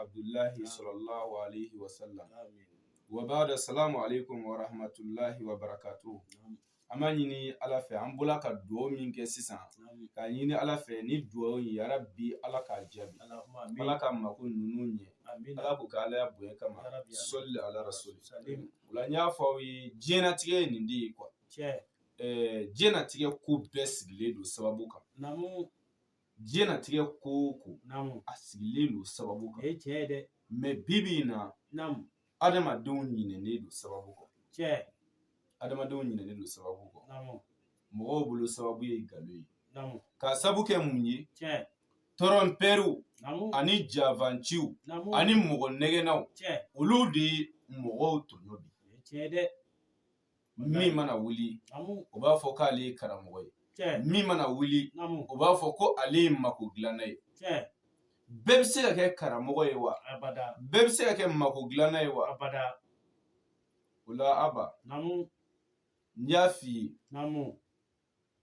abudulayi salalahu aleyi wasalam wabaadu salamu aleyikum waramatulayi wabarakatu an b'a ɲini ala fɛ an bɔra ka dugaw min kɛ sisan k'a ɲini ala fɛ ni dugaw ye yarabi ala k'a jaabi ala ka mako ninnu ɲɛ ala k'o k'a alaya bonya kama sɔli ala rasuli o la n y'a fɔ aw ye diɲɛnatigɛ ye nin de ye kuwa diɲɛnatigɛ ko bɛɛ sigilen don sababu kan diɲɛnatigɛ ko o ko naamu a sigilen don sababu kan o ye tiɲɛ ye dɛ mɛ bi bi in na naamu adamadenw ɲinɛnen don sababu kɔ tiɲɛ adamadenw ɲinɛnen don sababu kɔ naamu mɔgɔw bolo sababu ye galo ye naamu k'a sabu kɛ mun ye tiɲɛ tɔrɔnpɛriw naamu ani janfanciw naamu ani mɔgɔ nɛgɛnnaw tiɲɛ olu de ye mɔgɔw tɔɲɔ bi o ye tiɲɛ ye dɛ min mana wuli o b'a fɔ k'ale ye karamɔgɔ ye min mana wuli o b'a fɔ ko ale ye mako dilanna ye bɛɛ bɛ se ka kɛ karamɔgɔ ye wa bɛɛ bɛ se ka kɛ mako dilanna ye wa o la aba n y'a f'i ye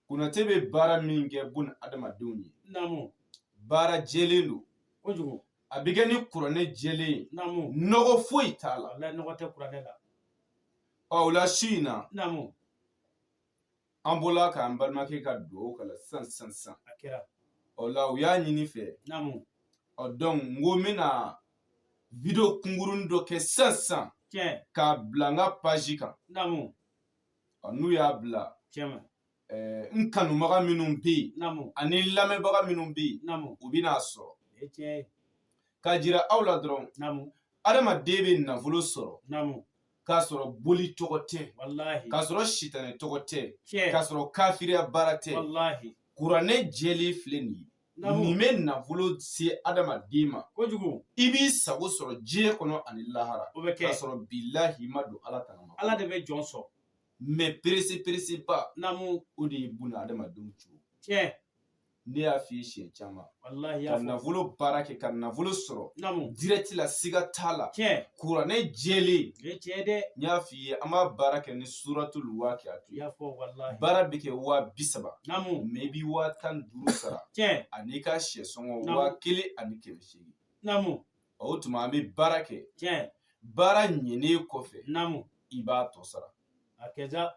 Konate bɛ baara min kɛ bunadamadenw ye naamu baara jɛlen don kojugu a bɛ kɛ ni kuranɛ jɛlen ye naamu nɔgɔ foyi t'a la walahi nɔgɔ tɛ kuranɛ la ɔ o la su in na naamu an bɔla k'an balimakɛ ka dugawu kalan sisan sisan sisan a kɛra o la u y'a ɲini n fɛ naamu ɔ donc n ko n bɛna video kunkuruni dɔ kɛ sisan sisan tiɲɛ k'a bila n ka page kan naamu n'u y'a bila n kanubaga minnu bɛ yen ani lamɛnbaga minnu bɛ yen u bɛna a sɔrɔ k'a jira aw la dɔrɔn adamaden bɛ nafolo sɔrɔ k'a sɔrɔ boli tɔgɔ tɛ k'a sɔrɔ sitanɛ tɔgɔ tɛ k'a sɔrɔ kafiriya baara tɛ kuranɛ jɛlen filɛ nin ye nin bɛ nafolo se adamaden ma kojugu i b'i sago sɔrɔ diɲɛ kɔnɔ ani lahara o bɛ kɛ k'a sɔrɔ bilahi ma don ala tanga ma ala de bɛ jɔn sɔn mɛ perese pereseba naamu o de ye bunadamadenw cogo tiɲɛ ne y'a f'i ye siɲɛ caman ka nafolo baara kɛ ka nafolo sɔrɔ dirɛti la siga t'a la kuranɛ jɛlen o ye tiɲɛ ye dɛ n y'a f'i ye an b'a baara kɛ ni suratul waqi'a i y'a fɔ walahi baara bɛ kɛ waa bi saba naamu mɛ i bɛ waa tan ni duuru sara tiɲɛ an'i ka syɛ sɔngɔ Naamu. waa kelen ani kɛmɛ seegin naamu o tuma an bɛ baara kɛ tiɲɛ baara ɲɛnen kɔfɛ naamu i b'a tɔ sara a kɛra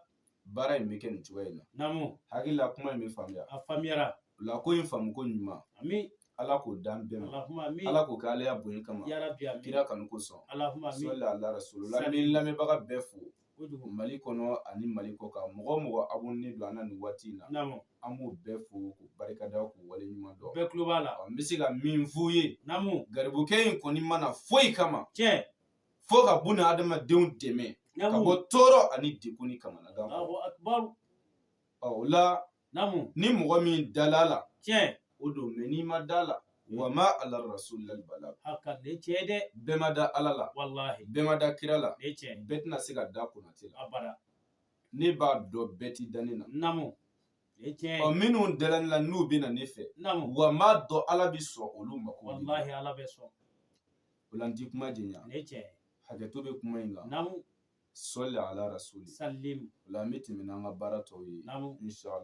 baara in bɛ kɛ nin cogoya in na naamu n hakili la kuma in bɛ faamuya a faamuyara o la ko in faamu ko ɲuman ami ala k'o dan bɛɛ ma alahuma ami ala k'o kɛ ala ya bonya kama yarabi ami kira kanu kosɔn alahuma ami sɔli ala rasulu la n bi lamɛnbaga bɛɛ fo kojugu mali kɔnɔ ani mali kɔkan mɔgɔ o mɔgɔ abonne don an na nin waati in na naamu an b'o bɛɛ fo k'u barika da k'u wale ɲuman dɔn bɛɛ kulo b'a la Ɔ, n bɛ se ka min f'u ye naamu garibukɛ in kɔni ma na foyi kama tiɲɛ fo ka buna adamadenw dɛmɛ ka bɔ tɔɔrɔ ani degun ni kamanagan o la ni mɔgɔ min dala a la o don mɛ n'i ma da a la wa ma ala rasulila bala bɛɛ ma da ala la bɛɛ ma da kira la bɛɛ tɛna se ka da konate la ne b'a dɔn bɛɛ ti da ne na ɔ minnu dala ne la n'u bɛ na ne fɛ wa n b'a dɔn ala bɛ sɔn olu mako o la n ti kuma janya hakɛto bɛ kuma in kan sɔli ala rasuli o la an bɛ tɛmɛ n'an ka baara tɔw ye inshallah